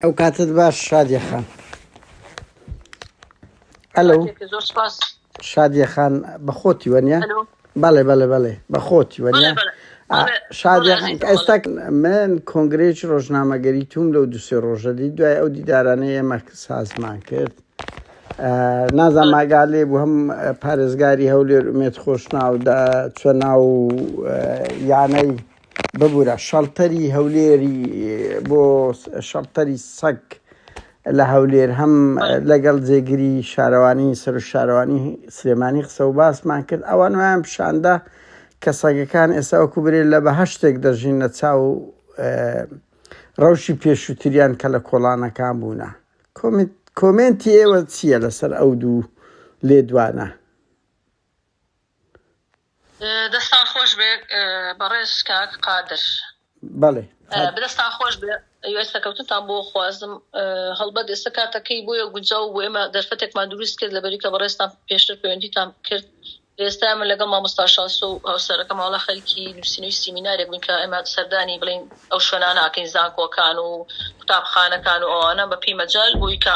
ئەو کاتت باش شادیە خان ئەلو شادیە خان بەخۆتی وەنیە بەڵێ بەڵێ بەڵێ بەخۆتی وەنیە شادیە ئێستا من کۆنگرێک ڕۆژنامەگەری توم لەو دوسێ ڕۆژە دی دوای ئەو دیدارانەی ئێمە سازمان کرد نازان ماگالێ بوو هەم پارێزگاری هەولێر ئومێت خۆشناودا چۆ ناو یانەی ببورە شەڵتەری هەولێری بۆ شەڵتەری سەگ لە هەولێر هەم لەگەڵ جێگری شارەوانی سەر شارەوانی سلێمانی قسە و باسمان کرد ئەوان ویان پیشاندا کە سەگەکان ئێستا وەکو برێت لە بە هەشتێک دەژین لە چاو ڕەوشی پێشووتریان کە لە کۆڵانەکان بوونە کۆمنتی ئێوە چییە لەسەر ئەو دوو لێدوانە دەستان خۆش بێ بەڕێز کاک قادر بەڵێ دەستان خۆش بێ ئەوێستەکەوتتان بۆ خوازم هەڵبەت ئێستا کاتەکەی بۆیە گونجاو بۆ ئێمە دەرفەتێکمان دروست کرد لە بەریکە بەڕێستان پێشتر پەیوەندیتان کرد ئێستا من لەگە مامۆستا شاس و هاوسەرەکە ماڵە خەلکی نووسینەوەی سیمینارێک بوون کە ئێمە سەردانی بڵین ئەو شوێناناکەین زانکۆکان و قوتابخانەکان و ئەوانە بەپی مەجال بوویکە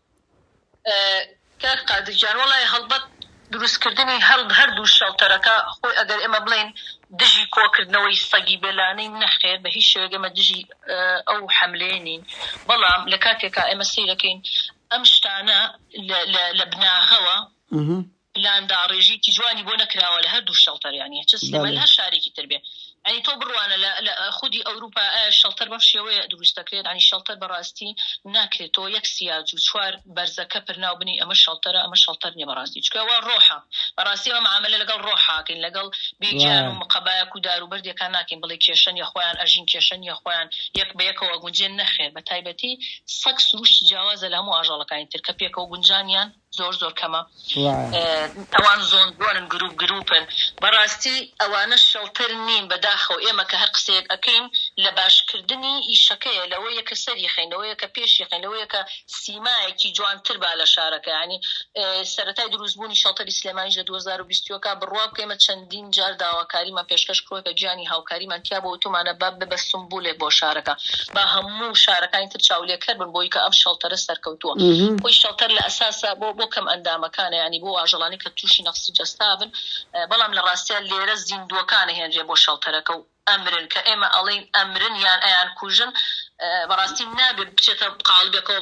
کاک قادر گیان وەڵای هەڵبەت دروستکردنی هەردوو شێڵتەرەکە خۆی ئەگەر ئێمە بڵێین دژی کۆکردنەوەی سەگی بێلانەین نەخێر بە هیچ شێوەیەک ئێمە دژی ئەو حەملەیە نین بەڵام لە کاتێکا ئێمە سەیرەکەین ئەم شتانە لە بناغەوە پلان داڕێژیکی جوانی بۆ نەکراوە لە هەردوو شەڵتەر یانی چ سلێمانی لە هەر شارێکی تر بێ یانی تۆ بڕوانە لە لە خودی ئەوروپا ئایا شەڵتەر بەم شێوەیە دروست دەکرێت یانی شەڵتەر بەڕاستی ناکرێت تۆ یەک سیاج و چوار بەرزەکە پر ناو بنێی ئەمە شەڵتەرە ئەمە شەڵتەر نیە بەڕاستی چونکە ئەوە ڕۆحە بەڕاستی ئەمە معامەلە لەگەڵ ڕۆح ئاکەین لەگەڵ بێ گیان و وایە مقەبایەک و دار و بەردێکا ناکەین بڵێی کێشە نیە خۆیان ئەژین کێشە نیە خۆیان یەک بە یەکەوە ئەگونجێن نەخێر بە تایبەتی سەگ سروشتی جیاوازە لە هەموو ئاژەڵەکانی تر کە پێکەوە گونجانیان زۆر زۆر کەمە ئەوان زۆن زۆنن گروپ گروپن بەڕاستی ئەوانە شەڵتر نین بەداخەوە ئێمە کە هەر قسەیەک ئەکەین لە باشکردنی ئیشەکەیە لەوە یەکە سەری خەین لەوە یەکە پێشی خەین لەوە یەکە سیمایەکی جوانتر با لە شارەکەیانی سەرەتای دروستبوونی شەڵتەری سلێمانیش لە 2020ەکە بڕوا بکەمە چەندین جار داواکاریمان پێشکەش کڕوە کە گیانی هاوکاریمان تیا بوە وتومانە با ببە سومبولێک بۆ شارەکە با هەموو شارەکانی تر چاولێکەر بن بۆی کە ئەم شەڵتەرە سەرکەوتوە خۆی شەڵتەر لە ئەساسا بۆ بۆ کەم ئەندامەکانە یانی بۆ ئاژەڵانی کە توشی نەقسی جەستا بن بەڵام لە ڕاستیا لێرە زیندوەکان ئەهێنرێ بۆ شەڵتەرەکە و ئەمرن کە ئێمە ئەڵێین ئەمرن یان ئەیانکوژن بەڕاستی نابێ بچێتە قاڵبێکەوە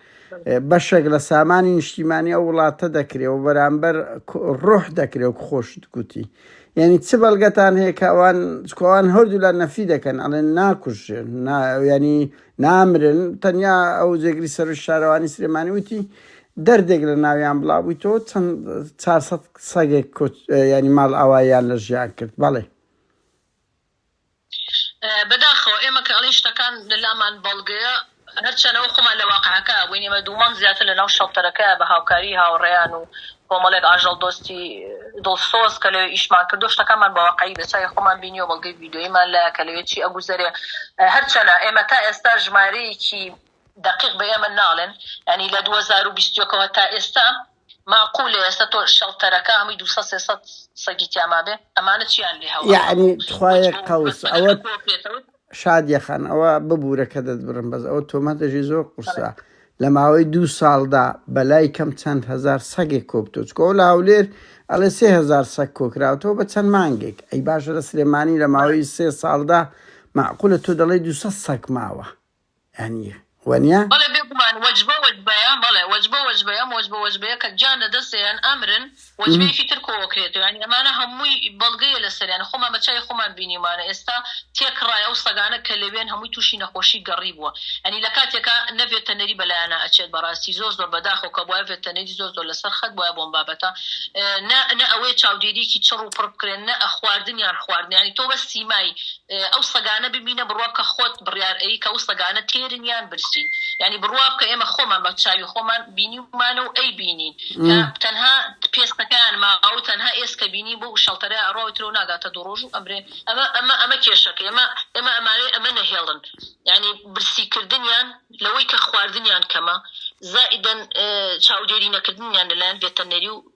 بەشێک لە سامانی نیشتیمانی ئەو وڵاتە دەکرێ و بەرامبەر ڕۆح دەکرێ و خۆشت گوتی یعنی چ بەڵگەتان هەیە کەوان چکوان هەردوو لە نەفی دەکەن ئەڵێن ناکوژێن ینی نامرن تەنیا ئەو جێگری سەر شارەوانی سلێمانی وتی دەردێک لە ناویان بڵاوبووی تۆ چەند 400 سەگێک ینی ماڵ ئاوایان لە ژیان کرد بەڵێ بەداخەوە ئێمە کە ئەڵێین شتەکان لە لامان بەڵگەیە، هەرچەند ئەوە خۆمان لە واقعەکەیا بووین، ئێمە دوو مانگ زیاتر لەناو شەڵتەرەکەیا بە هاوکاریی هاوڕێیان و کۆمەڵێک ئاژەڵدۆستی دڵسۆز کە لەوێ ئیشمان کردووە، شتەکانمان بە واقعی بە چاوی خۆمان بینیوە، بەڵگەی ڤیدیۆییمان لایە کە لەوێ چی ئەگوزەرێ. هەرچەنە ئێمە تا ئێستا ژمارەیەکی دەقیق بە ئێمە ناڵێن، یانی لە دوو هەزار و بیست و یەک ەوە تا ئێستا، ماقولە ئێستا تۆ شەڵتەرەکە هەمووی دوو سەد سێ سەد سەگی تیا مابێ ئەمانە چیان لێ هەڵ ئەخەم یەعنی تخوایە وەچ بۆ قەوس بەسەرە ئەوەت ئەکۆ پێتەوت شادیە خان ئەوە ببورە کە دەتبڕم بەس ئەوە تۆمەتەژی زۆر قورسە لە ماوەی دوو ساڵدا بەلای کەم چەند هەزار سەگێک کۆبتۆ چکۆ لە هەولێر ئەڵێ سێ هەزار سەگ کۆکراوتەوە بە چەند مانگێک ئەی باشە لە سلێمانی لە ماوەی سێ ساڵدا معقولە تۆ دەڵێی دوو سەد سەگ ماوە یانی وەنیە؟ بەڵێ بێگومان وەجبە وەجبەیە بەڵێ وەجبە وەجبەیە ئەم وەجبە وەجبەیە کە گیان لە دەستێیان ئەمرن وەجبەیەکی تر کۆ ئەکرێتەوە یانی ئەمانە هەمووی بەڵگەیە لەسەر یانی خۆمان بە چاوی خۆمان بینیومانە ئێستا تێکڕای ئەو سەگانە کە لەوێن هەمووی تووشی نەخۆشی گەڕی بووە یانی لە کاتێکا نە ڤێتەنەری بەلایانا ئەچێت بەڕاستی زۆر زۆر بەداخەوە کە بوایە ڤێتەنەری زۆر زۆر لەسەر خەت بوایە بۆم بابەتە نا نا ئەوەیە چاودێریکی چڕ و پڕ بکرێن نا خواردنیان خواردن یانی تۆ بە سیمای ئەو سەگانە ببینە بڕوا بکە خۆت بڕیار ئەیی کە ئەو سەگانە تێرن یان برسین یانی بڕوا بکە ئێمە خۆمان بە چاوی خۆمان بینیومانە و ئەیبینین کە تەنها پێستەکەیان ماوە و تەنها ئێسکە بینی بۆ شەڵتەرە ئەڕا و ترۆ ناگاتە دوو ڕۆژ و ئەمرێ ئەمە ئەمە ئەمە کێشەکە ئێمە ئێمە ئەمانەی ئەمە نەهێڵن یانی برسیکردنیان لەوەی کە خواردنیان کەمە زائیدەن چاودێری نەکردنیان لەلایەن ڤێتەرنەری و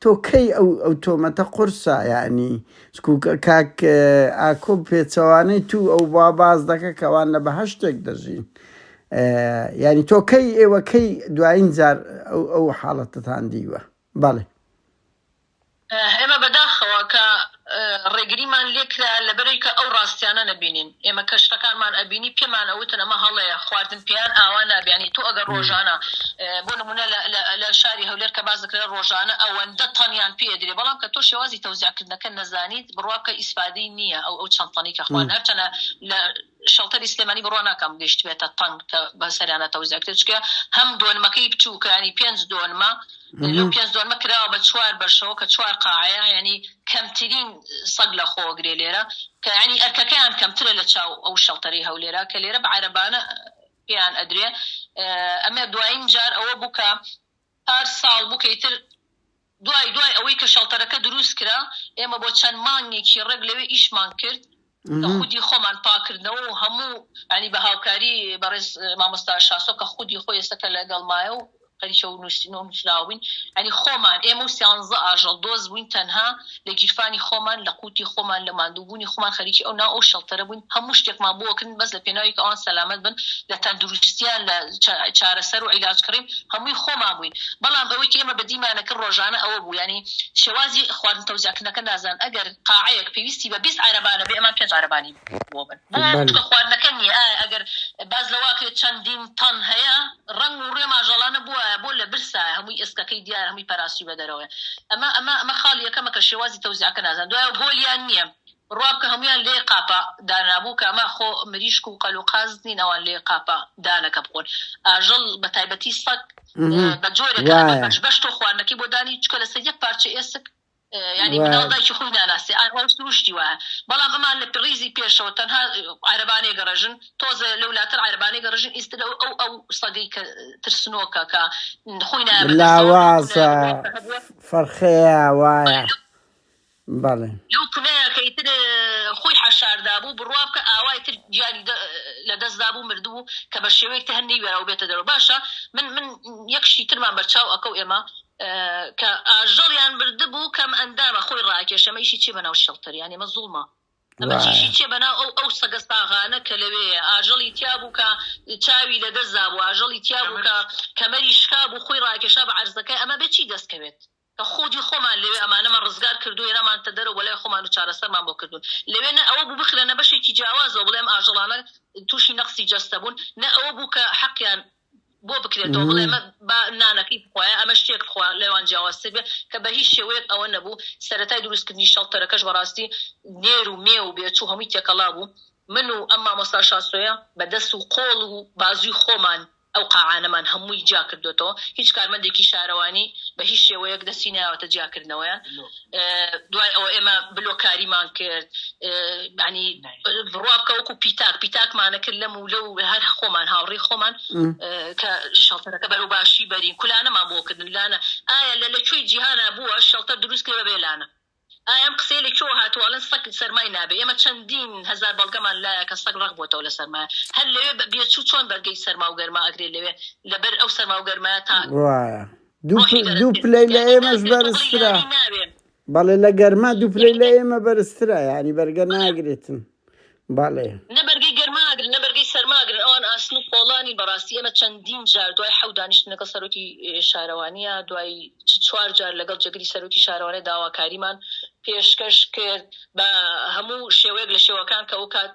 تۆ کەی ئەو ئەو تۆمەتە قورسە یانی سکو کاک ئاکۆ پێچەوانەی توو ئەو با باز دەکە کەوان لە بەهشتێک دەژین یانی تۆ کەی ئێوە کەی دوایین جار ئەو ئەو حاڵەتتان دیوە بەڵێ ئێمە بەداخەوە کە ڕێگریمان لێکرا لەبەرەوی کە ئەو ڕاستیانە نەبینین ئێمە کە شتەکانمان ئەبینی پێمان ئەوتن ئەمە هەڵەیە خواردن پێیان ئاوا نابێ یانی تۆ ئەگەر ڕۆژانە بۆ نمونە لە شاری هەولێر کە باس دەکرێ ڕۆژانە ئەوەندە تەنیان پێ ئەدرێ بەڵام کە تۆ شێوازی تەوزیعکردنەکە نەزانیت بڕوا بکە ئیسفادەی نییە ئەو ئەو چەند تەنەی کە خوان هەرچەنە لە شەڵتەری سلێمانی بڕوا ناکەم گەیشتبێتە تەنگ کە بە سەریانە تەوزیا کرێت چکە هەم دۆنمەکەی بچووکە ینی پێنج دۆنمە لەو پێنج دۆنمە کراوە بە چوار بەشەوە کە چوار قاعەیە ینی کەمترین سەگ لە خۆگرێ لێرە کە ینی ئەرکەکەیان کەمترە لە چاو ئەو شەڵتەری هەولێرە کە لێرە بە عربانە پێیان ئەدرێ ئەمە دوایین جار ئەوە بووکە پار ساڵ بوو کە ئیتر دوای دوای ئەوەی کە شەڵتەرەکە دروست کرا ئێمە بۆ چەند مانگێکی ڕێک لەوێ ئیشمان کرد کە خودی خۆمان پاکردنەوە و هەموو ینی بە هاوکاری بەڕێز مامۆستا شاسۆ کە خودی خۆی ئێستا کە لەگەڵمایە و خەریکە و نووسینەوە نووسراوین ینی خۆمان ئێمە و سیانزە ئاژەڵ دۆست بووین تەنها لە گیرفانی خۆمان لە قوتی خۆمان لە ماندووبوونی خۆمان خەریکی ئەو ناو ئەو شەڵتەرە بووین هەموو شتێکمان بۆ ئەکردن بەس لە پێناوی کە ئەوان سەلامەت بن لە تەندروستیان لە چارەسەر و عیلاج کڕین هەمووی خۆمان بووین بەڵام ئەوەی کە ئێمە بەدیمانە کرد ڕۆژانە ئەوە بوو ینی شێوازی خواردن تەوزیعکردنەکە نازان ئەگەر قاعەیەک پێویستی بە بیست عەرەبانە بێ ئەمان پێنج عەرەبانی بۆ بن بۆ بەڵێ چونکە خواردنەکە نییە ئەگەر باس لەوە کرێت چەندین تەن هەیە ڕەنگ و ڕوێ ماژەڵا نەبوایە بۆ لە برسایە هەمووی ئێسکەکەی دیارە هەمووی پەراستی بە دەرەوەیە ئەمە ئەمە ئەمە خاڵی یەکەمە کە شێوازی تەوزیعەکە نازان دوایە گۆلیان نییە ڕوا بکە هەموویان لێ قاپە دانابوو کە ئەمە خۆ مریشک و قەل و قاز نین ئەوان لێ قاپە دانەکە بخۆن ئاژەڵ بە تایبەتی سەگ ئه بە جۆرێکە وایە بەش بەش تۆ خواردنەکەی بۆ دانی چکە لەسەر یەک پارچە ئێسک یانی مناڵ دایکی خۆی ناناسێ ئای ئەو سروشتی وایە بەڵام ئەمان لە ڕیزی پێشەوە تەنها عەرەبانێ گەڕژن تۆزێ لەو لاتر عەربانێ گەڕژن ئیست لە ئەو ئەو سەدەی کە ترسنۆکە کە خۆی لاوازە فەرخەیە وایە بەڵێ لەو کلەیەکەی تر خۆی حەشاردا بوو بڕوا بکە ئاوای تر گیانی لە دەستدا بوو مردبوو کە بە شێوەیەک تە هەر نەیوێراو بێتە دەرەوە باشە من من یەکشی ترمان بەرچاو ئەکەو ئێمە کە ئاژەڵیان بردبوو کەم ئەندامە خۆی ڕاکێش ئەمە ئیشی چیە بەناو شەڵتەر یانی ئەمە زوڵمە ئەمە وایە. چیشی چیە بەناو ئەو ئەو سەگە ساغانە کە لەوێیە ئاژەڵی تیا بوو کە چاوی لە دەست دابوو ئاژەڵی تیا بوو کە کەمەری شکا بوو خۆی ڕاکێشا بە عەرزەکەی ئەمە بێ چی دەستکەوێت کە خودی خۆمان لەوێ ئەمانەمان ڕزگار کردو هێنامانتە دەرەوە بۆ لای خۆمان و چارەسەرمان بۆ کردوون لەوێ نە ئەوە بوو بخرێنە بەشێکی جیاوازەوە بڵێ ئەم ئاژەڵانە تووشی نەقسی جەستە بوون نە ئەوە بوو کە حەقیان بۆ بکرێتەوە بڵێ مە با نانەکەی بخوایە ئەمە شتێک بخوا لەوان جیاوازتر بێ کە بە هیچ شێوەیەک ئەوە نەبوو سەرەتای دروستکردنی شەڵتەرەکەش بەڕاستی نێر و مێ و بێچوو هەمووی تێکەڵا بوو من و ئەم مامۆستا شاسۆیە بە دەست و قۆڵ و بازوی خۆمان ئەو قاعانەمان هەمووی جیا کردوێتەوە هیچ کارمەندێکی شارەوانی بە هیچ شێوەیەک دەستی نایەوەتە جیاکردنەوەیان دوای ئەوە ئێمە بلۆکاریمان کرد ینی بڕوا بکە وەکو پیتاک پیتاکمانە کرد لەم و لەو هەر خۆمان هاوڕی خۆمان کە شەڵتەرەکە بەرەو باشی بەرین کولانەمان بۆ کردن لانە ئایا لە لە کوێی جیهانە بووە شەڵتە دروست کرد بێ لانە ئایام قسەی لە کۆ هاتوواڵن سەک سەرمای نابێ ئێمە چەندین هزار بەڵگەمان لایە کە سەگ ڕق بۆتەوە لە سەرما هەر لەوێ بە بێچوو چۆن بەرگەی سەرما و گەرما ئەگرێت لەوێ لەبەر ئەو سەرما و گەرما تا وایە دوو پ دوو پلەی لە ئێمەش بەرزترە بەڵێ لە گەرما دوو پلەی لە ئێمە بەرزترە یعنی بەرگە ناگرێتن بەڵێ نەبەرگەی گەرماگر نەبەرگەی سەرماگر ئەوان ئاسن و پۆڵانی بەڕاستی ئێمە چەندین جار دوای حەو دانیشتن لەگەڵ سەرۆکی شارەوانیە دوای چ چوار جار لەگەڵ جێگری سەرۆکی شارەوانە داواکاریمان پێشکەش کرد بە هەموو شێوەیەک لە شێوەکان کە ئەو کات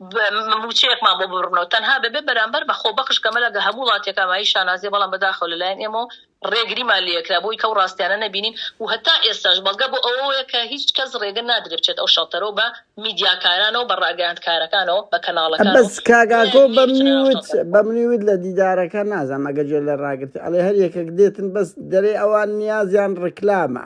مووچەیەکمان بۆ ببڕنەوە تەنها دەبێت بەرامبەر بە خۆبەخش کە مەلا هەموو وڵاتێک ئامایی شانازیە بەڵام بەداخەوە لەلایەن ئێمەوە ڕێگریمان لێکرا بۆی کەو ڕاستیانە نەبینین و هەتا ئێستاش بەڵگە بۆ ئەوەیە کە هیچ کەس ڕێگە نادرێت بچێت ئەو شەڵتەرەوە بە میدیاکارانەوە بە ڕاگەیاندکارەکانەوە بە کەناڵەکان بەس کاک ئاکۆ بەمنی وت بەمنی وت لە دیدارەکە نازانم ئەگەر جێ لە ڕاگرت ئەڵێ هەر یەکێک دێتن بەس دەرێ ئەوان نیازیان ڕکلامە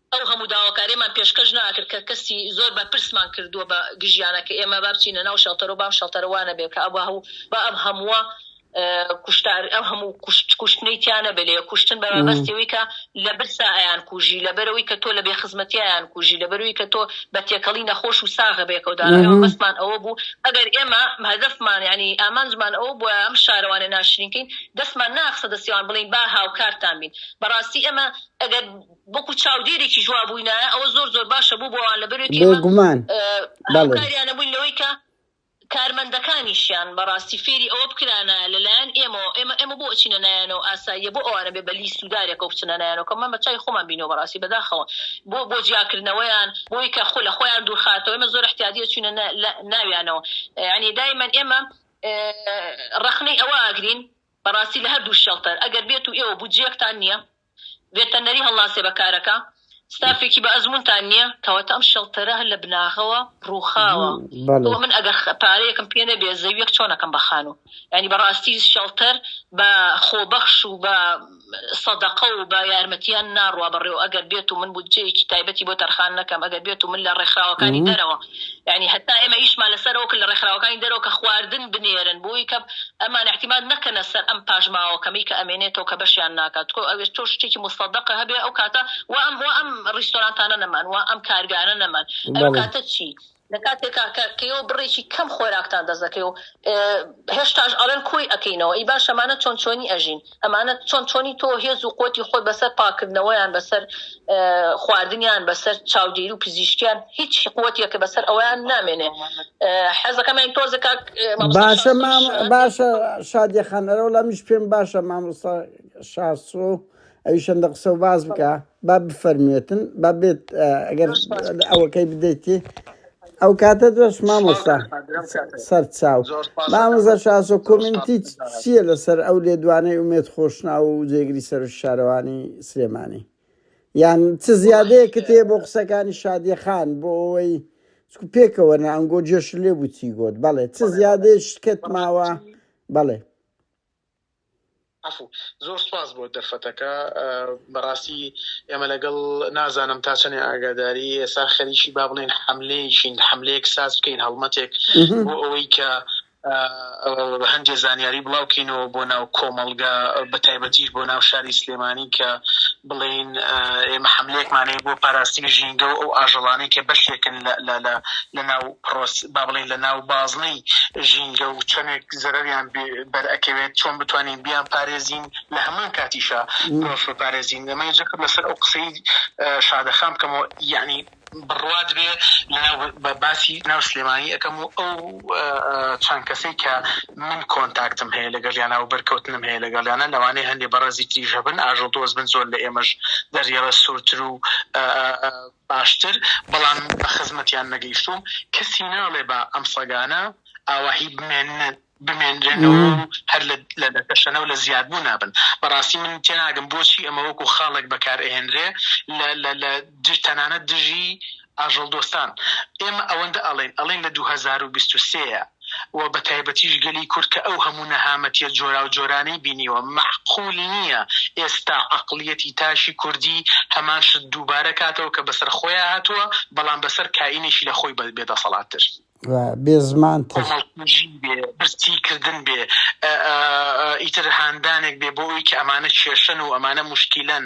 ئەو هەموو داواکاریەمان پێشکەش ناکرد کە کەسی زۆر بەرپرسمان کردووە بە گژیانە کە ئێمە با بچینە ناو شەڵتەرو بام شەڵتەرە وا نەبێ کە ئەبا هەوو با ئەم هەمووە کوشتار ئەم هەموو کوشت کوشتنەی تیا نەبێ لێ کوشتن بە مەبەستی ئەوی کە لە برسا ئەیان کوژی لە بەرەوەی کە تۆ لە بێ خزمەتی ئەیان کوژی لە بەروی کە تۆ بە تێکەڵی نەخۆش و ساغە بێکەوە دا ئێمە مەبەستمان ئەوە بوو ئەگەر ئێمە هەدەفمان یعنی ئامانجمان ئەوە بووە ئەم شارەوانە ناشرینکەین دەستمان ناخسە دەستیان بڵین با هاوکارتان بین بەڕاستی ئێمە ئەگەر وەکو چاودێرێکیش وا بووینایە، ئەوە زۆر زۆر باشە بۆ بۆ ئەوان لە بەروێت ئێمە بێگومان بەڵێ. هاوکاریانە بووین لەوەی کە کارمەندەکانیشیان بەڕاستی فێری ئەوە بکرانایە لە لایەن ئێمەوە ئێمە ئێمە بۆ ئەچینە نایانەوە ئاساییە بۆ ئەوانە بێ بە لیست و دارێکەوە بچنە نایانەوە کە من بە چاوی خۆمان بینیوە بەڕاستی بەداخەوە بۆ بۆ جیاکردنەوەیان بۆ ئەوەی کە خۆ لە خۆیان دوورخاتەوە ئێمە زۆر احتیادی ئەچوینە نا لە ناویانەوە یعنی دایمەن ئێمە ڕەخنەی ئەوە ئاگرین بەڕاستی لە هەردوو شێڵتەر ئەگەر بێت و ئێوە بودجەیەکتان نییە بێتەنەری هەڵناسێ بە کارەکە ستافێکی بە ئەزمونتان نیە. کەواتە ئەم شێڵتەرە هەر لە بناغەوە ڕوخاوە بۆ من ئەگەر پارەیەکم پێ نەبێ زەویەک چۆن ئەکەم بە خانو یانی بەڕاستی شێڵتەر بە خۆبەخش و بە سەدەقە و بە یارمەتیان ناڕوا بەڕێوە ئەگەر بێتو من بودجەیەکی تایبەتی بۆ تەرخان نەکەم ئەگەر بێتو من لە ڕێکخراوەکانی دەرەوە یانی هەتا ئێمە ئیشمان لەسەر ئەوکرد لە ڕێکخراوەکانی دەرەوە کە خواردن بنێرن بۆی کە ئەمان ئیعتیماد نەکەنە سەر ئەم پاشماوە کەمەی کە ئەمێنێتەوە کە بەشیان ناکات تکۆ ئەوێ تۆ شتێکی موسەدەقە هەبێ ئەو کاتە وا ئەم وا ئەم ڕیستۆرانتانە نەمان وا ئەم کارگانە نەمان ئەو بەڵێ کاتە چی لە کاتێکا کە کە ئێوە بڕێکی کەم خۆراکتان دەست دەکەوێ و ئێ، هێشتاش ئەڵێن کۆی ئەکەینەوە ئەی باش ئەمانە چۆن چۆنی ئەژین ئەمانە چۆن چۆنی تۆ هێز و قوتی خۆت بەسەر پاکردنەوەیان بەسەر خواردنیان بەسەر چاودێری و پزیشکیان هیچ قوتیەکە بەسەر ئەویان نامێنێ حەزەکەمان تۆزە کاک باشە مام باشە شادیەخان ئەرەوە لە میش پێم باشە مامۆستا شاسۆ ئەوی شەندە قسە و باز بکە با بفەرموێتن با بێت ئەگەر ئەوەکەی بدەیتی ئەو کاتە دۆش مامۆستا سەر چاو مامۆزە شاسۆ کۆمنتی چییە لەسەر ئەو لێدوانەی ئومێت خۆشنا و جێگری سەر شارەوانی سلێمانی یان چ زیادەیە کتێ بۆ قسەکانی شادیە خان بۆ ئەوەی پێکەوە نانگۆ جێش لێ بووتی گۆت بەڵێ چ زیادێش کەت ماوە بەڵێ زۆر سوپاس بۆ دەرفەتەکە بەڕاستی ئێمە لەگەڵ نازانم تا چەنێ ئاگاداری ئێستا خەریکی با بڵێن حملەیەکین حملەیەک ساز بکەین هەڵمەتێک بۆ ئەوەی کە هەندێ زانیاری بڵاوکەینەوە بۆ ناو کۆمەڵگە بە تایبەتیش بۆ ناو شاری سلێمانی کە بڵین ئێمە حملەیەکمانەیە بۆ پاراستنی ژینگە و ئەو ئاژەڵانەی کە بەشێکن لە ناو پڕۆس با بڵێین لە ناو بازنەی ژینگە و چەنێک زەرەریان بەر ئەکەوێت چۆن بتوانین بیان پارێزین لە هەمان کاتیشا مرۆڤ بپارێزین ئەمە جەخت لەسەر ئەو قسەی شادەخان بکەمەوە یەعنی بڕوات بێ لە ناو بە باسی ناو سلێمانی ئەکەم و ئەو چەند کەسەی کە من کۆنتاکتم هەیە لەگەڵیانا و بەرکەوتنم هەیە لەگەڵیانە لەوانەیە هەندێ بەڕێزی تریش هەبن ئاژەڵ دۆست بن زۆر لە ئێمەش دەریەڵە سوورتر و باشتر بەڵام بە خزمەتیان نەگەیشتووم کەسی ناڵێ با ئەم سەگانە ئاواهی بمێنن بمێنرێنەوە و هەر لە لە دەکەشەنە و لە زیاد بوو نابن بەڕاستی من تێناگەم بۆچی ئەمە وەکو خاڵێک بەکار ئەهێنرێ لە لە لە دژ تەنانەت دژی ئاژەڵدۆستان ئێمە ئەوەندە ئەڵێین ئەڵێین لە دوو هەزار و بیست و سێ و بە تایبەتیش گەلی کورد کە ئەو هەموو نەهامەتیە جۆراوجۆرانەی بینیوە، مەعقول نیە ئێستا عەقڵیەتی تاشی کوردی هەمان شت دووبارە کاتەوە کە بەسەر خۆیا هاتووە، بەڵام بەسەر کائینێکی لە خۆی بێ دەسەڵات تر. و بێ زمان تر. کۆمەڵکوژی بێ، برسی کردن بێ، ئیتر هاندانێک بێ بۆ ئەوی کە ئەمانە کێشەن و ئەمانە موشکیلەن.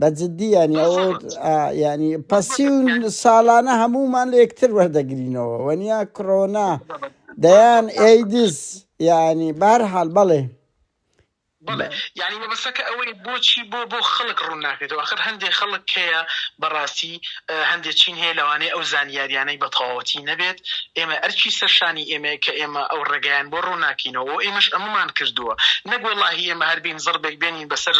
بە جدی یانی ئەو ینی پسی و ساڵانە هەمومان لە یەکتر وەردەگرینەوە وەنیا کڕۆنا دەیان ئەیدز ینی بار حال بەڵێ بڵێ یعنی مەبەسەکە ئەوەی بۆچی بۆ بۆ خەڵک ڕوون ناکرێتەوە خەر هەندێک خەڵک کەیە بەڕاستی هەندێک چین هەیە لەوانەیە ئەو زانیاریانەی بە تەواوەتی نەبێت ئێمە ئەرچی سەرشانی ئێمە کە ئێمە ئەو ڕێگەیان بۆ ڕووناکینەوە ئێمەش ئەممان کردووە نەگوڵاهی ئێمە هەربین زڕبێک بێنین بەسەر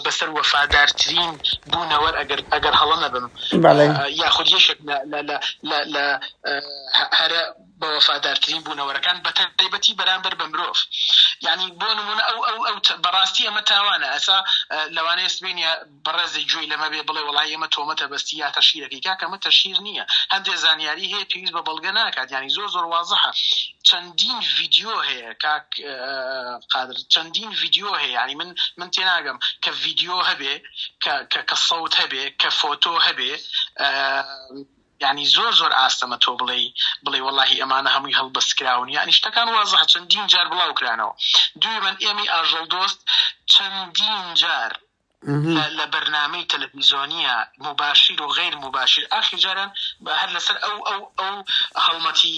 بەسەر وەفادارترین بوونەوەر ئەگەر ئەگەر هەڵە نەبم یاخود یەکێک لە هەرە بە وەفادارترین بوونەوەرەکان بە تایبەتی بەرامبەر بە مرۆڤ ینی بۆ نمونە ئەو ئەو ئەو بەڕاستی ئەمە تاوانە ئەسا لەوانەیە سبینە بەڕێزی گوێی لەمە بێ بڵێ وڵی ئەمە تۆمەتە بەستی یا تەشیرەکەی کاکەمە تەشیر نییە هەندێک زانیاری هەیە پێویست بە بەڵگە ناکات ینی زۆر زۆر وازحە چەندین ڤیددیو هەیە کاک قادر چەندین ڤیدیۆ هەیە یعنی من من تێناگەم کە ڤیدیۆ هەبێ کە سەوت هەبێ کە فۆتۆ هەبێ ینی زۆر زۆر ئاستەمە تۆ بڵێ بڵێ وڵی ئەمانە هەمووی هەڵبەستکراون یانی شتەکان وازح چەندین جار بڵاوکرانەوە دوێ من ئێمی ئاژەڵ دۆست چەندین جار لە بەرنامەی تەلەفیزۆنیە موباشیر و غەیر موباشیر ئاخیر جاران هەر لەسەر ئەو ئەو ئەو هەڵمەتی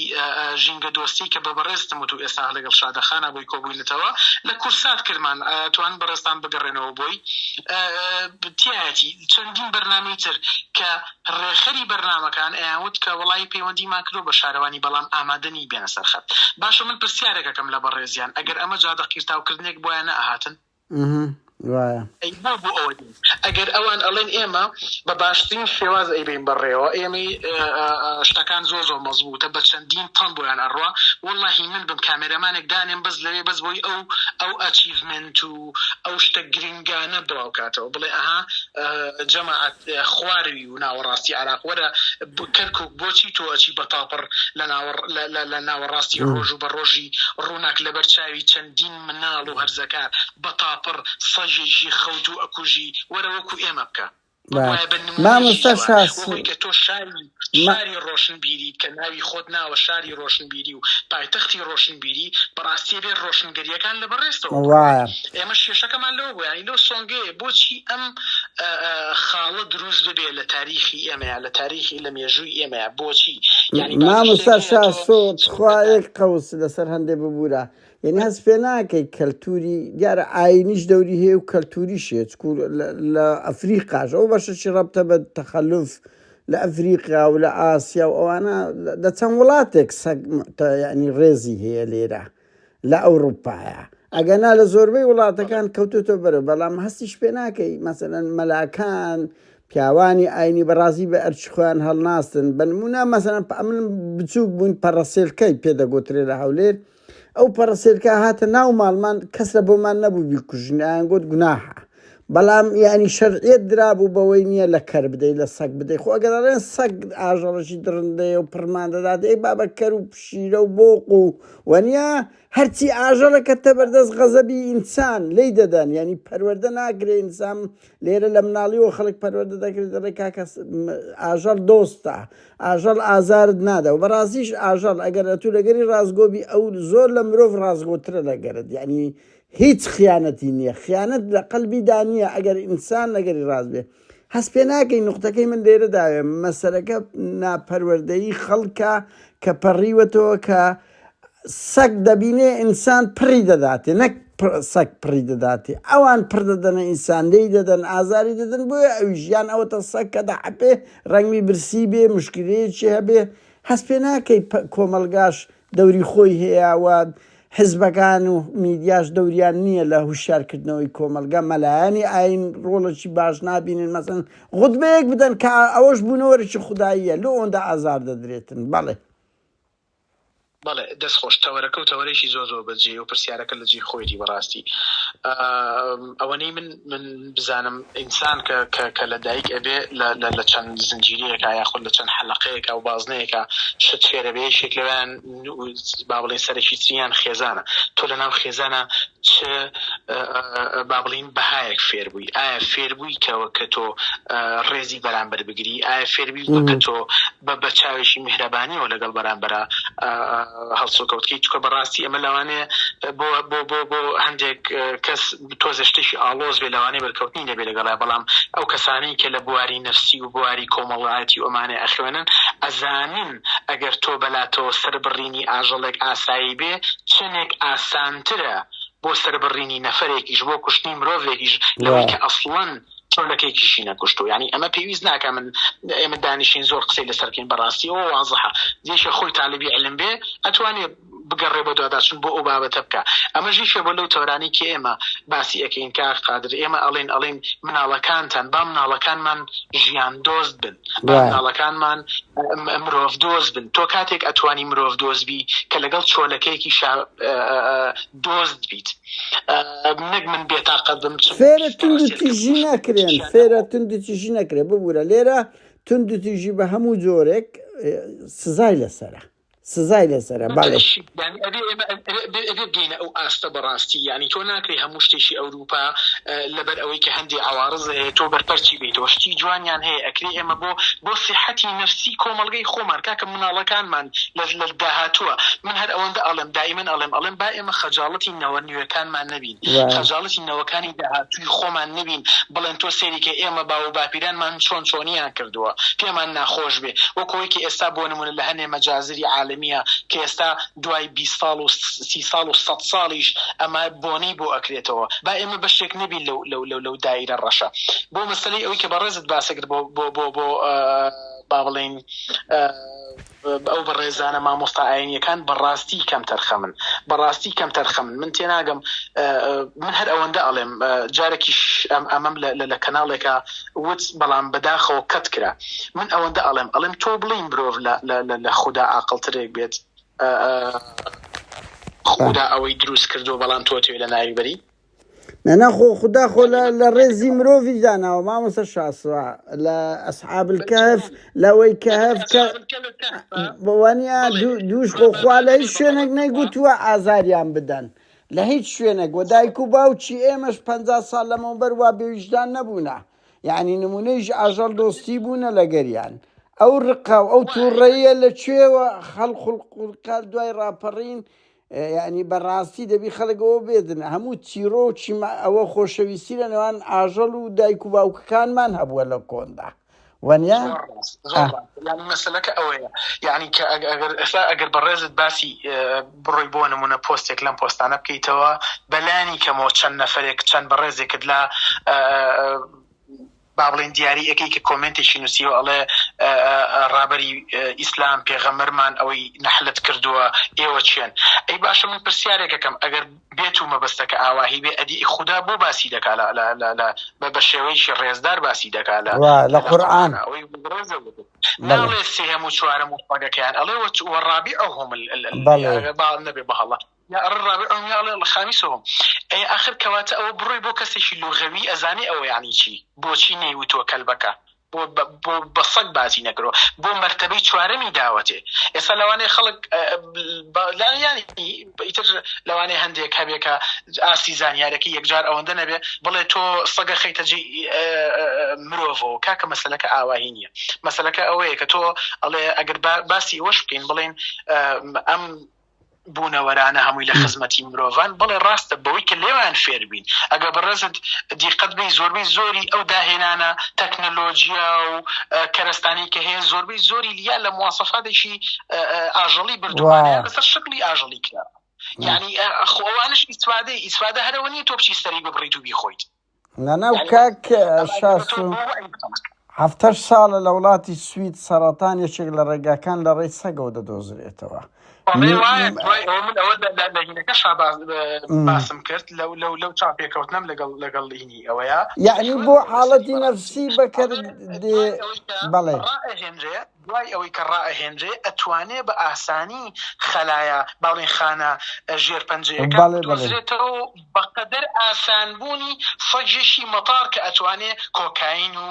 ژینگە دۆستی کە بە بەڕێزتم و تو ئێستا لەگەڵ شادەخانا بۆی کۆبووینەتەوە لە کورسات کردمان توان بەڕێزتان بگەڕێنەوە بۆی تایەتی چەندین بەرنامەی تر کە ڕێخەری بەرنمەکان ئەیانوت کە وڵی پەیوەندیمان کرۆ بە شارەوانی بەڵام ئامادەنی بێنە سەرخەت باشە من پرسیارێکەکەم لە بەڕێزیان ئەگەر ئەمە جادە قیرتاوکردنێک بۆیان نەهاتن ئەها وایە ئەی نا بۆ ئەوە دێن ئەگەر ئەوان ئەڵێن ئێمە بە باشترین شێواز ئەیبەین بەڕێوە ئێمەی شتەکان زۆر زۆر مەزبووتە بە چەندین تەن بۆیان ئەڕوا واللهی من بم کامێرەمانێک دانێم بەس لەوێ بەس بۆی ئەو ئەو ئەچیڤمنت و ئەو شتە گرنگانە بڵاو کاتەوە بڵێ ئەها جەماعەت خواروی و ناوەڕاستی عراق وەرە کەرکک بۆچی تۆ ئەچی بە تاپڕ لە ناوە لە ناوەڕاستی ڕۆژ و بە ڕۆژی ڕووناک لەبەر چاوی چەندین مناڵ و هەرزەکار بە تاپڕ سەگێکی خەوتوو ئەکوژی وەرە وەکو ئێمە بکە بگوایە بە نموونەیەکی ئێوە وەهۆی کە تۆ شاری شاری ڕۆشنبیریت کە ناوی خۆت ناوە شاری ڕۆشنبیری و پایتەختی ڕۆشنبیری بەڕاستی ئەبێ ڕۆشنگەرییەکان لە بەڕێزتەوە بڕوات ئێمەش کێشەکەمان لەوە بوو یانی لەو سۆنگەیە بۆچی ئەم خاڵە دروست ببێ لە تاریخی ئێمەیە لە تاریخی لە مێژووی ئێمەیە بۆچی یانی مامۆستا شاسۆ تخوا یەک قەوس لەسەر هەندێ ببورە یەنی هەست پێ ناکەی کەلتوری دیارە ئاینیش دەوری هەیە و کەلتوریش هەیە چکو لە- لە ئەفریقاش ئەو بەشەشی ڕەبتە بە تەخەلف لە ئەفریقا و لە ئاسیا و ئەوانە لە- لە چەند وڵاتێک سەگ متە یعنی ڕێزی هەیە لێرە لە ئەوروپایە ئەگەنا لە زۆربەی بەڵێ وڵاتەکان کەوتوتە بەرە بەڵام هەستیش پێ ناکەی مەسەن مەلاکان پیاوانی ئاینی بەڕازی بە ئەرچ خۆیان هەڵناستن بەنمونە مەسەن ئەمن بچووک بووین پەڕەسێلکەی پێدەگوترێ لە هەولێر ئەو پەڕە سێرکە هاتە ناو ماڵمان کەس لە بۆمان نەبوو بیکوژین ئایان گوت گوناحە بەڵام یعنی شەرعیت درابوو بەوەی نییە لە کەر بدەی لە سەگ بدەی خۆ ئەگەرڵێن سەگ ئاژەڵەشی دڕندەیە و پڕمان دەدات ئەی بابە کەر و پشیرە و بۆق و وەنیە هەرچی ئاژەڵەکە تە بەردەست غەزەبی ئینسان لی دەدەن ینی پەروەەردە ناکرێ ئینسان لێرە لە مناڵیەوە خەڵک پەروەردە دەکرێت دەڵێ کاکە ئاژەڵ دۆستە ئاژەڵ ئازارت نادا و بەڕازیش ئاژەڵ ئەگەر ئە تو لەگەری ڕازگۆبی ئەو زۆر لە مرۆڤ ڕازگۆترە لەگەرت یعنی هیچ خیانەتی نییە خیانەت لە قەلبی دانیە ئەگەر ئینسان لەگەری ڕازبێ هەست پێ ناکەی نقطەکەی من لێرە داوێ مەسەرەکە ناپەروەردەی خەڵکە کە پەڕیوەتەوە کە سەگ دەبینێ ئینسان پڕی دەداتێ نەک سەگ پڕی دەداتێ ئەوان پڕ دەدەنە ئینسان لێی دەدەن ئازاری دەدەن بۆیە ئەویش یان ئەوەتە سەگ کە دەحەپێ ڕەنگی برسی بێ مشکلەیەکی هەبێ هەست پێ ناکەی کۆمەڵگاش دەوری خۆی هەیە و حزبەکان و میدیاش دەوریان نییە لە هوشارکردنەوەی کۆمەلگا مەلایانی ئاین ڕۆڵەکی باش نبینن مەسن غودبەیەک بدەن کە ئەوەش بوونەوەرەی خودداییە لۆ ئەوەندە ئازار دەدرێتن بەڵێ بەڵێ دەست خۆش تەوەرەکە و تەوەرەیەکی زۆر زۆر بە جێ و پرسیارەکە لە جێ خۆیدی بەڕاستی ئەوەنەی من من بزانم ئینسان کە کە کە لە دایک ئەبێ لە چەند زنجیرەیەکە یاخود لە چەند حەلقەیەکە و بازنەیەەکە شت فێرە بێ شێک لەوان با بڵێن سەرەکی تریان خێزانە تۆ لە ناو خێزانە چ با بڵین بەهایەک فێر ئایا فێربووی کە وەک کە تۆ ڕێزی بەرامبەر بگری؟ ئایا فێربووی وەک کە تۆ بە بە چاوێکی میهرەبانیەوە لەگەڵ بەرامبەرا هەڵسوکەوت بکەی؟ چونکە بە ڕاستی ئەمە لەوانەیە بۆ بۆ بۆ بۆ هەندێک کەس تۆزێ شتێکی ئاڵۆز بێ لەوانەیە بەرکەوتنی نەبێ لەگەڵا بەڵام ئەو کەسانەی کە لە بواری نەفسی و بواری کۆمەڵایەتی و ئەمانەی ئەخوێنن ئەزانن ئەگەر تۆ بەلاتەوە سەربڕینی ئاژەڵێک ئاسایی بێ چەنێک ئاسانترە بۆ سەربڕینی نەفەرێکیش بۆ کوشتنی مرۆڤێکیش لەوەی کە ئەسڵەن چۆلەکەیکیشی نەکوشتو ینی ئەمە پێویست ناکە من ئێمە دانیشین زۆر قسەی لەسەرکەین بەڕاستی ئەوە وازحە دێشە خۆی تاالبی علم بێ ئەتوانێ بگەڕێ بە دواداچون بۆ ئەو بابەتە بکە ئەمە ژیشە بۆ لەو تۆرانی کە ئێمە باسی ئەەکەین کاک قادر ئێمە ئەڵین ئەڵین مناڵەکانتان با مناڵەکانمان ژیان دۆست بن با مناڵەکانمان مرۆڤ دۆز بن تۆ کاتێک ئەتوانی مرۆڤ دۆز بی کە لەگەڵ چۆلەکەیەکی شا دۆست بیت نەک من بێتاقەت بم فێرە تونند تیژی نەکرێن فێرە تونند تیژی نەکرێ ببوورە لێرە تونند تیژی بە هەموو جۆرێک سزای لەسرە سزای لەسەرە بەڵێ. یانی ئەبێ ئێمە ئەبێ ئەبێ بگەینە ئەو ئاستە بەڕاستی یانی تۆ ناکرێ هەموو شتێکی ئەوروپا لەبەر ئەوەی کە هەندێ عەوارز هەیە تۆ بەرپەرچی بیتەوە شتی جوانیان هەیە ئەکرێ ئێمە بۆ بۆ سیحەتی نەفسی کۆمەڵگەی خۆمان کاکە مناڵەکانمان لە لە داهاتووە من هەر ئەوەندە ئەڵێم دائیمەن ئەڵێم ئەڵێم با ئێمە خەجاڵەتی نەوە نوێکانمان نەبین. خەجاڵەتی نەوەکانی داهاتووی خۆمان نەبین بڵێن تۆ سەیری کە ئێمە باو و باپیرانمان چۆن چۆنیان کردووە پێمان ناخۆش بێ وەک ئەوەی کە ئێستا بۆ نموونە لە هەنێ مەجازری عالەمییە کە ئێستا دوای بیست ساڵ و سی ساڵ و سەد ساڵیش ئەمە بۆنەی بۆ ئەکرێتەوە با ئێمە بەشێک نەبین لەو لەو لەو لەو دایرە ڕەشە بۆ مەسەلەی ئەوەی کە بەڕێزت باسەکرد بۆ بۆ بۆ بۆ با بڵێین ئەو بەڕێزانە مامۆستا ئاینیەکان بەڕاستی کەمتەرخەمن بەڕاستی کەمتەرخەمن من تێناگەم من هەر ئەوەندە ئەڵێم جارێکیش ئەم ئەمەم لە کەناڵێکە وت بەڵام بەداخەوە کەت کرا من ئەوەندە ئەڵێم ئەڵێم تۆ بڵین مرۆڤ لە خوددا ئاقلترێک بێت خوددا ئەوەی دروست کردو بەڵام تۆ توێ لە ناوی بەری نەنا خۆ خدا خۆ لە ڕێزی مرۆڤی داناوە مامۆسە شاسوە لە ئەسحابل کەف لەوەی کەف بەوانە دووش خۆ خوا لە هیچ شوێنێک نەیگوتووە ئازاریان بدەن لە هیچ شوێنێک وە دایک و باوکی ئێمەش پ ساڵ لەمەوە بەروا بێویژدان نەبوونە یعنی نمونەیش ئاژەڵ دۆستی بوونە لەگەریان ئەو ڕقا و ئەو تووڕەیە لە کوێوە خەڵخڵقورکال دوای ڕاپەڕین یانی بەڕاستی دەبی خەڵک ئەوە بێدن هەموو چیرۆکی ئەوە خۆشەویستی لە نێوان ئاژەڵ و دایک و باوکەکانمان هەبووە لە کۆندا وەنیا ینی مەسلەکە ئەوەیە یعنی کە ئەگەر ئەسا ئەگەر بەڕێزت باسی بڕۆی بۆ نمونە پۆستێک لەم پۆستانە بکەیتەوە بەلانی کەمەوە چەند نەفرێک چەند بەڕێزێکت لە با بڵێین دیاری ئەکەی کە کۆمێنتێکی نوسیوە ئەڵێ ڕابەری ئیسلام پێغەمبەرمان ئەوەی نەحلەت کردووە ئێوە چێن ئەی باشە من پرسیارێک ئەکەم ئەگەر بێت و مەبەستەکە ئاواهی بێ ئەدی ئی خودا بۆ باسی دەکا لە لە لە لە بە بە شێوەیەکی ڕێزدار باسی دەکا لە وا لە قورئان ئەوەی بەڕێزە وتو ناڵێ سێهەم و چوارەم و پەگەکەیان ئەڵێ وە چ وە ڕابیعەهوم ال ال ال بەڵێ. ئەگەر با نەبێ بە هەڵە یا ئەڕ ڕابع ئەوم یا ئەڵێ ئەڵ خامیسهم ئەی ئاخر کەواتە ئەوە بڕۆی بۆ کەسێکی لوغەوی ئەزانێ ئەوە یەعنی چی بۆچی نەیوتووە کەلبەکە بۆ بۆ بە سەگ باسی نەکرۆ بۆ مەرتەبەی چوارەمی داوەتێ ئێستا لەوانەیە خەڵک لایانی ئیتر لەوانەیە هەندێک هەبێ کە ئاستی زانیارەکە یەکجار ئەوەندە نەبێ بڵێ تۆ سەگە خەیتە جێ مرۆڤەوە کاکە مەسلەکە ئاواهی نییە مەسلەکە ئەوەیە کە تۆ ئەڵێ ئەگەر باسی وەش بکەین بڵێن ئەم بوونەوەرانە هەمووی لە خزمەتی مرۆڤان بەڵێ ڕاستە بەوەی کە لێوان فێربین ئەگە بەڕێزت دیقەت بی زۆربەی زۆری ئەو داهێنانە تەکنەلۆژیا و کەرەستانی کە هەیە زۆربەی زۆری لیا لە موواسەفاتێکی ئاژەڵی بردووانە لەسەر شکلی ئاژەڵی کرا یعنی خۆوانش ئیسفادەی ئیسفادە هەرەوە نیە تۆ بچی سەری ببڕیت و بیخۆیت نانا و کاک شاسو هەفتەش ساڵە لە وڵاتی سوید سەرەتان یەکێک لە ڕێگاکان لە ڕێی سەگەوە دەدۆزرێتەوە باسم کرد لەو لەو لەو چاپێکەوتنم لەگەڵ لەگەڵ لینی ئەوەیە یعنی بۆ حاڵەتی نەفسی بەکرد بەڵێ دوای ئەوەی کە ڕائەهێنرێ ئەتوانێ بە ئاسانی خەلایا با بڵێین خانە ژێر پەنجەیەکان بدۆزرێتەوە و بە قەدەر ئاسان بوونی سەگێکی مەتاڕ کە ئەتوانێ کۆکاین و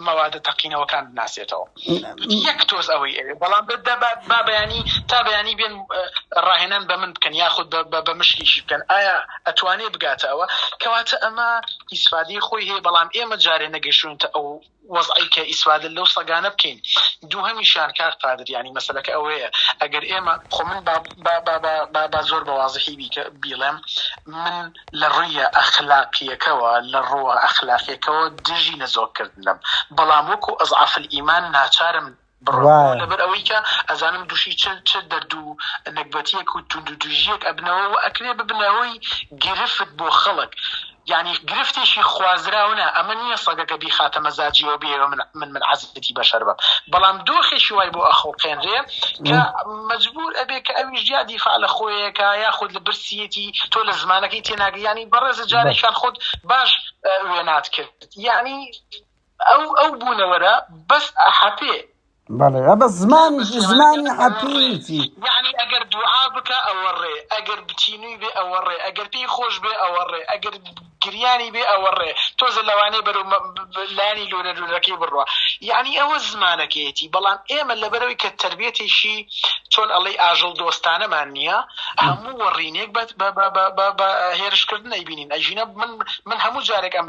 مەوادە تەقینەوەکان بناسێتەوە یەک تۆز ئەوەی ئەوێ بەڵام بە دەبات با بەیانی تا بەیانی بێن ڕاهێنان بە من بکەن یاخود بە مشکیشی بکەن ئایا ئەتوانێ بگاتە ئەوە کەواتە ئەمە ئیسفادی خۆی هەیە بەڵام ئێمە جارێ نەگەشتونتە ئەو وەزعی کە ئیسفادە لەو سەگانە بکەین دووهەمیشیان کاک قادر یانی مەسەلەکە ئەوەیە ئەگەر ئێمە خۆ من با با با با با با زۆر بە وازحی بیکە بیڵێم من لە ڕویە ئەخلاقیەکەوە لە ڕوە ئەخلاقیەکەوە دژی نەزۆککردنم بەڵام وەکو ئەزعەفل ئیمان ناچارم بڕوا لەبەر ئەوەی کە ئەزانم دووشی چ چ دەرد و نەگبەتیەک و توندو توژیەک ئەبنەوە و ئەکرێ ببنە هۆی گرفت بۆ خەڵک یانی گرفتێکی خوازراو نا ئەمە نیە سەگەکە بیخاتە مەزاجیەوە بێەوە من من من عەزیزەتی بەشەر بم بەڵام دۆخێکی وای بۆ ئەخوڵقێنرێ کە مەجبور ئەبێ کە ئەویش یا دیفاع لە خۆیەکە یا خود لە برسیەتی تۆ لە زمانەکەی تێناگەی یانی بەڕێزە جارێکیان خود باش وێنات کرد یانی ئەو ئەو بوونەوەرە بەس ئەحەپێ. بەڵێ ئەبە زمان زمانی حەپیتی یعنی ئەگەر دوعا بکە ئەوە ڕێ ئەگەر بچینوی بێ ئەوە ڕێ ئەگەر پێی خۆش بێ ئەوە ڕێ ئەگەر گریانی بێ ئەوە ڕێ تۆزە لەوانەیە بەرەو لانی لۆرە لولەکەی بڕە یعنی ئەوە زمانەکەیەتی بەڵام ئێمە لەبەرەوەی کە تربێتێکی چۆن ئەڵەی ئاژەڵ دۆستانەمان نییە هەموو وەڕینێک بە هێرشکردن ئەیبینین ئەژینە من من هەموو جارێک ئەم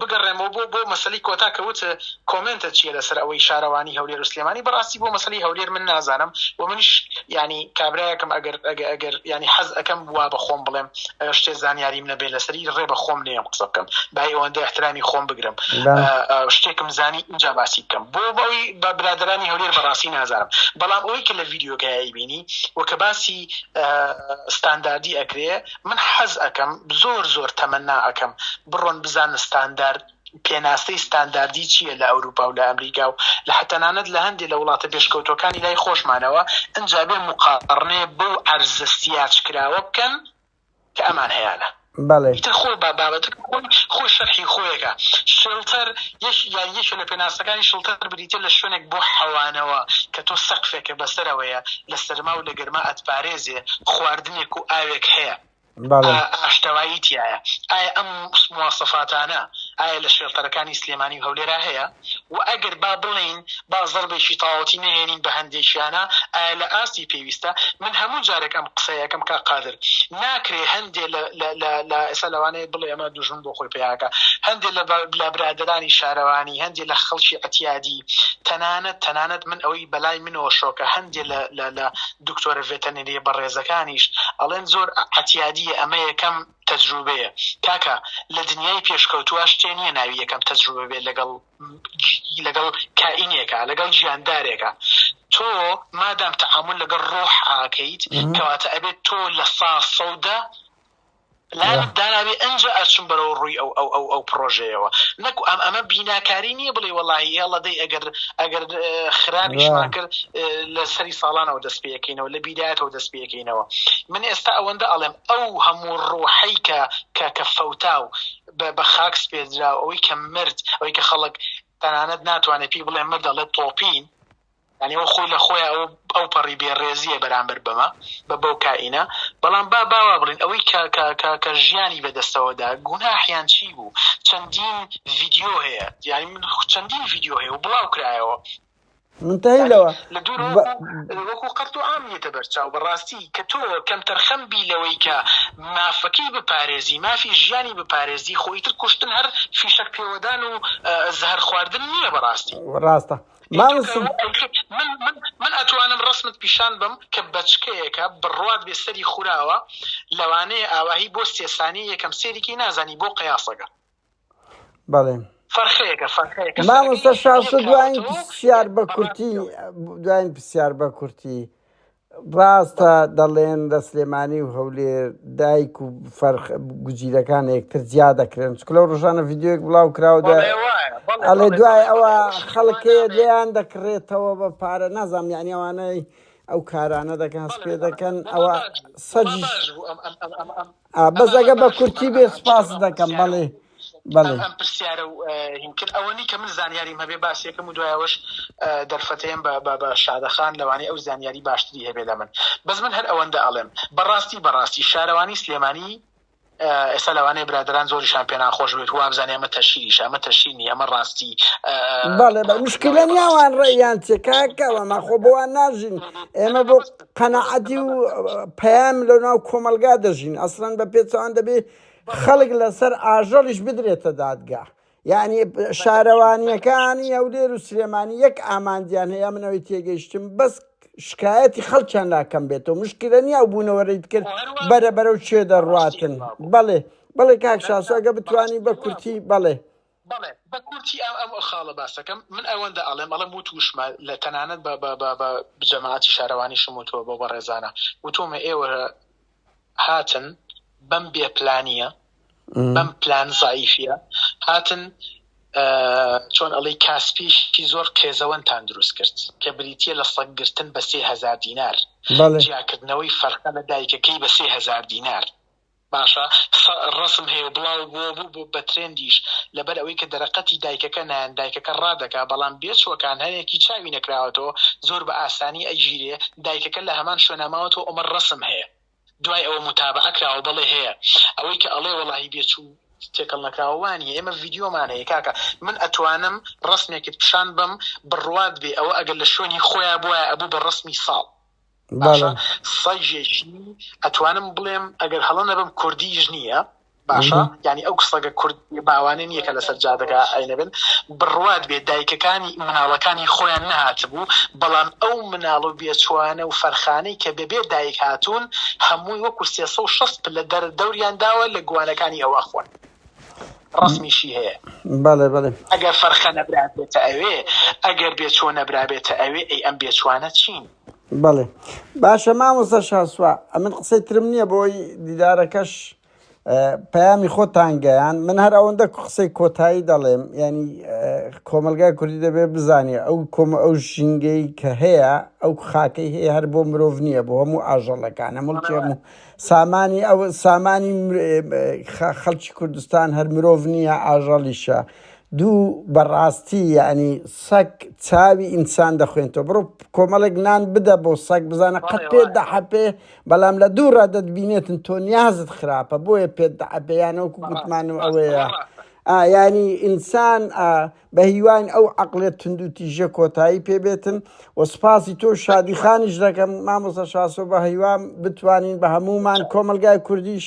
بگەڕێمەوە بۆ بۆ مەسەلەی کۆتا کە وت کۆمێنتە چیە لەسەر ئەوەی شارەوانی هەولێر و سلێمانی بەڕاستی بۆ مەسەلەی هەولێر من نازانم و منیش یعنی کابرایەکم ئەگەر ئەگەر ئەگەر یعنی حەز ئەەکەم وا بە خۆم بڵێم شتێ زانیاریم نەبێت لەسەری ڕێ بە خۆم نێم قسە بکەم بای ئەوەندە احترامی خۆم بگرم شتێکم زانی اینجا باسی بکەم بۆ بەوی بە برادرانی هەولێر بەڕاستی نازانم بەڵام ئەوەی کە لە ڤیددیوکایی بینی و کە باسی ستانداردی ئەکرێ من حەز ئەکەم زۆر زۆر تەمەنا ئەکەم بڕۆن بزانن ستاندارد پێناسەی ستانداردی چییە لە ئەوروپا و لە ئەمریکا و لە حە تەنانەت لە هەندێ لە وڵاتە پێشکەوتووەکانی لای خۆشمانەوە ئنجا بێ موقاڕنەێ بەو عەرزە سیاج کراوە بکەن کە ئەمان هەیانە. بەڵێ. ئیتر خۆ با بابەتەکە خۆی خۆی شەرحی خۆیەکە. شێڵتەر یەک یان یەکێ لە پێناسەکانی شڵتەر بریتیە لە شوێنێک بۆ حەوانەوە کە تۆ سەقفێکە بەسەرەوەیە لە سەرما و لە گەرما سەرما ئەتپارێزێ، خواردنێک و ئاوێک هەیە ئاشتەوایی تیایە، ئایا ئەم مواسەفاتانە ئایا لە شێڵتەرەکانی سلێمانی و هەولێرا هەیە و ئەگەر با بڵێین با زەڕبێکی تاوەتی نەهێنین بە هەندێکیانە ئایا لە ئاستی پێویستە؟ من هەموو جارێک ئەم قسەیە ئەکەم کاک قادر، ناکرێ هەندێ لە ئێستا لەوانەیە بڵێ ئەمە دوژمن بۆ خۆی پەیا ئەکا، هەندێ لە برادەرانی شارەوانی، هەندێ لە خەڵکی عەتیادی، تەنانەت تەنانەت من ئەوەی. بەلای منەوە شۆکە هەندێ لە لە لە دکتۆرە ڤێتەنریە بەڕێزەکانیش ئەڵێن زۆر عەتیادیە ئەمە یەکەم تەجروبەیە کاکە لە دنیای پێشکەوتوە شتێ نیە ناوی یەکەم تەجروبە بێت لەگەڵ لەگەڵ کائینێکە لەگەڵ ژیاندارێکە تۆ مادام تەعامل لەگەڵ ڕۆح ئاکەیت کەواتە ئەبێت تۆ لە سا سەودە لایەنێک دانابێ ئەنجا ئەچم بەرەوە ڕووی ئەو ئەو ئەو ئەو پرۆژەیەوە نەکو ئەم ئەمە بیناکاری نییە بڵێ وەڵی هێڵە دەی ئەگەر ئەگەر خراپیشمان کرد لە سەری ساڵانەوە دەست پێەکەینەوە لە بیدایەتەوە دەست پێەکەینەوە من ئێستا ئەوەندە ئەڵێم ئەو هەموو ڕۆحەی کە کە کە فەوتا و بە خاکس پێدرا ئەوەی کە مرد ئەوەی کە خەڵک تەنانەت ناتوانێت پێی بڵێ مردەڵێت تۆپین یانی ئەو خۆی لە خۆیا ئەو ئەو پەڕی بێ ڕێزیە بەرامبەر بەمە بە بەو کائینە بەڵام با باوا بڵین ئەوەی کە کە کە کە ژیانی بەدەستەوەدا گوناحیان چی بوو چەندین ڤیدیۆ هەیە یانی من چەندین ڤیدیۆ هەیە و بڵاو کرایەوە منتهی لەوە لە دوور ب... وەکو قەرت و عام نیەتە بەرچاو بەڕاستی کە تۆ کەم تەرخەم بی لەوەی کە مافەکەی بپارێزی مافی ژیانی بپارێزی خۆیتر کوشتن هەر فیشەک پێوەدان و زەهر خواردن نییە بەڕاستی ڕاستە مامە سوب. من من من ئەتوانم ڕەسمت پیشان بم کە بەچکەیەکە بڕوات بێ سەری خوراوە لەوانەیە ئاواهی بۆ سێ سانی یەکەم سێریکی نازانی بۆ قەیاسەگە بەڵێ فەرخەیەکە فەرخەیەکە مامۆستا سەرەکەی شاسۆ یەک دوایین کاوەتەوە و پرسیار بە کورتی دوایین پرسیار بە کورتی ڕاستە دەڵێن لە سلێمانی و هەولێر دایک و فەرخ گزیرەکان یەکتر جیا دەکرێن چکە لەو ڕژانە ڤیددیوەک بڵاو کراوە ئەڵێ دوای ئەوە خەڵکەیە لێیان دەکڕێتەوە بە پارە نازام یعنی ئەوانەی ئەو کارانە دەکەن هەست پێ دەکەن ئەوە سەجیش ئا بەس ئەگە بە کورتی بێ سپاست دەکەم بەڵێ بەڵێ ئەم پرسیارە و هینکرد ئەوەنی کە من زانیاریم هەبێ باسیەکەم و دوایەوەش دەرفەتەیەم بە بە بە شادەخان لەوانەیە ئەو زانیاری باشتری هەبێ لە من بەس من هەر ئەوەندە ئەڵێم بەڕاستی بەڕاستی شارەوانی سلێمانی ئێستا لەوانەیە برادران زۆریشان پێ ناخۆش بێت وابزانانی ئەمە تەشیریش ئەمە تەشینی ئەمە ڕاستی بەڵێ بە مشکلە نیاوان ڕێیان چێکاکەوە ماخۆ بۆوان ناژین ئێمە بۆ قەناعەتی و پەیام لە ناو کۆمەلگا دەژین ئەسلەن بە پێچەوان دەبێ خەلک لەسەر ئاژەڵیش بدرێتە دادگا یعنی شارەوانیەکانی هەولێر و سلێمانی یەک ئامانجیان هەیە منەوەی تێگەیشتم بەس شکایەتی خەڵکیان ناکەم بێتەوە مشکلە نیە و بوونەوەرەیت کرد بەرە بەرەو چێ دەڕاتن بەڵێ بەڵێ کاک شاسۆگە بتانی بە کورتی بەڵێ بەڵێ بە کورتی ئەم ئەم خاڵە باسەکەم من ئەوەندە ئەڵێم ئەڵێم وت وشمە لە تەنانەت بە بە بە بە جەماعەتی شارەوانیشم وتوە بۆ بەڕێزانە وتۆمە ئێوە هاتن بەم بێ پلانیە بەم پلان زعیفە هاتن چۆن ئەڵی کاسپیشی زۆر قێزەوەنتان دروست کرد کە بریتە لە سەگرتن بە سێهزار دینار جیاکردنەوەی فەرقە لە دایکەکەی بە سێهزار دینار باشە سە رسم هەیە و بڵاو بووە بوو بە بە ترێندیش لەبەر ئەوەی کە دەرە قەتی دایکەکە نایەن دایکەکە ڕادەکا بەڵام بێ چووەکان هە یەکی چاوی نەکراوەتەوە زۆر بە ئاسانی ئە گیرێ دایکەکە لە هەمان شوێنا ماوەتەوە ئەمە ڕەسم هەیە دوای ئەوە موتابەعە کراوە بەڵێ هەیە ئەوەی کە ئەڵێ وەڵاهی بێ چوو تێکەڵ نەکراوە وا نیە ئێمە ڤیدیۆمان هەیە کاکە من ئەتوانم ڕەسمێکت پیشان بەم بڕوات بێ ئەوە ئەگەر لە شوێنی خۆیا بوایە ئەبوو بە ڕەسمی ساڵ باشە سەگێکی ئەتوانم بڵێم ئەگەر هەڵە نەبم کوردیش نییە باشە یعنی ئەو سەگە کورد باوانە نییە کە لەسەر جادەگا ئەینەبن بڕوات بێ دایکەکانی مناڵەکانی خۆیان نهاتبوو بەڵام ئەو مناڵ و بێچوانە و فەرخانەی کە بەبێ دایک هاتوون هەمووی وەکو 360 پلە دەر دەوریان داوە لە گوانەکانی ئەو ئەخۆن ڕسمیشی هەیە بەڵێ بەڵێ ئەگەر فەرخە نەبرابێتە ئەوێ ئەگەر بێچۆ نەبرابێتە ئەوێ ئەی ئەم بێچوانە چین بەڵێ باشە مامۆستا شاسوا ئەمن قسەی ترم نییە بۆی دیدارەکەش پەیامی خۆتان گەیان من هەر ئەوەندە قسەی کۆتایی دەڵێم ینی کۆمەلگای کوردی دەبێ بزانێ ئەو کۆم ئەو ژینگەی کە هەیە ئەو خاکەی هەیە هەر بۆ مرۆڤ نییە بۆ هەموو ئاژەڵەکان هەموڵکی هەموو سامانی ئەو سامانی خەڵکی کوردستان هەر مرۆڤ نییە ئاژەڵیشە دوو بەڕاستی یەعنی سەگ چاوی ئینسان دەخوێنتەوە بڕۆ کۆمەڵێک نان بدە بۆ سەگ بزانە قەت پێت دەحەپێ بەڵام لە دوو ڕا دەتبینێتن تۆ نیازت خراپە بۆیە پێت دەحەپێ یانەوەکو گوتمان و ئەوەیە ئایانی ئینسان بە هیوان ئەو عقلێت تندوتیژە کۆتایی پێبێتن و سپاسی تۆ شادی خانیش دەکەم مامۆسە شاسۆ بە هیوام بتوانین بە هەمومان کۆمەلگای کوردیش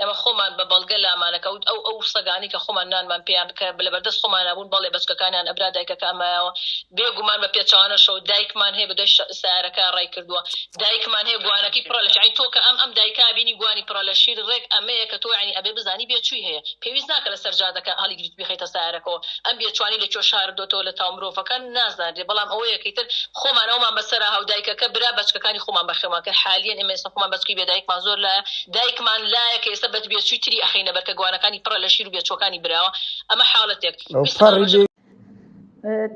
ئێمە خۆمان بە بەڵگە لامانە کە ئەو ئەو سەگانەی کە خۆمان نانمان پێیان کە لە بەردەست خۆمانا بوون، بەڵێ بەچکەکانیان ئەبرا دایکەکە ئەمایەوە. بێ گومان بە پێچەوانەشەوە دایکمان هەیە بە دوای شە سەیارەکە ڕای کردووە. دایکمان هەیە گوانەکەی پڕە لە شیر. یانی تۆ کە ئەم ئەم دایکە بینی گوانی پڕە لە شیر ڕێک ئەمەیە کە تۆ یانی ئەبێ بزانی بێچووی هەیە. پێویست ناکە لە سەر جادەکە هەڵیگریت بیخەیتە سەیارەکەوە. ئەم بێچووانی لە کوێ شاردۆتەوە لە تاو مرۆڤەکە نازانرێ بەڵام ئەوەیە کە ئیتر خۆمان ئەومان بەسەرا هەو دایکەکە برا بەچکەکانی خۆمان بەخێومان کرد. حالیەن ئێمە ئێستا خۆمان بەچکەی بێ دایکمان زۆر لایە دایکمان لایەکە ئێستا بە بێچوی تری ئەخەینە بەرکە گوانەکانی پڕە لە شیر و بێچوەکانی براوە ئەمە حاڵەتێک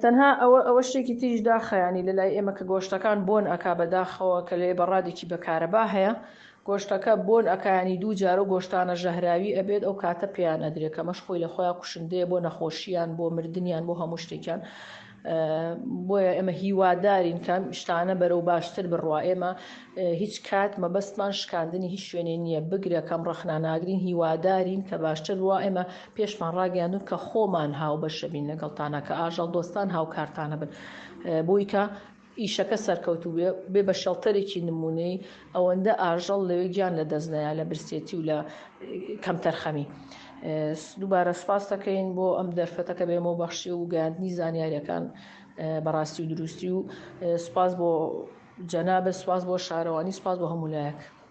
تەنها ئەوە ئەوە شتێکی تیش داخەیانی لە لای ئێمە کە گۆشتەکان بۆن ئەک بەداخەوە کە لێ بەڕادێکی بەکارەبا هەیە گۆشتەکە بۆن ئەکانی دوو جارە گۆشتانە ژەهراوی ئەبێت ئەو کاتە پێیان ئەدرێت کەمەش خۆی لە خۆیان کوشندەیە بۆ نەخۆشییان بۆ مردیان بۆ هەموو شتێکیان بۆیە ئێمە هیوادارین کە ئەم شتانە بەرەو باشتر بڕوا ئێمە هیچ کات مەبەستمان شکاندنی هیچ شوێنێ نییە بگرە کەم ڕەخنا ناگرین هیوادارین کە باشتر بووە ئێمە پێشمان ڕاگەیاندون کە خۆمان هاوبەشەبین لەگەڵتانە کە ئاژەڵ دۆستان هاوکارتانە بن بۆیکە ئیشەکە سەرکەوتوو بێ بە شەڵتەرێکی نموونەیی ئەوەندە ئاژەڵ لەوێ گیان لە دەست نەیا لە برسێتی و لە کەمتەرخەمی. دووبارە سوپاست دەکەین بۆ ئەم دەرفەتە کە بەێمەوە بەخشی و گەیاندنی زانیاریەکان بە ڕاستی و دروستی و سوپاس بۆ جەنابت سوپاس بۆ شارەوانی سوپاس بۆ هەموو لایەک.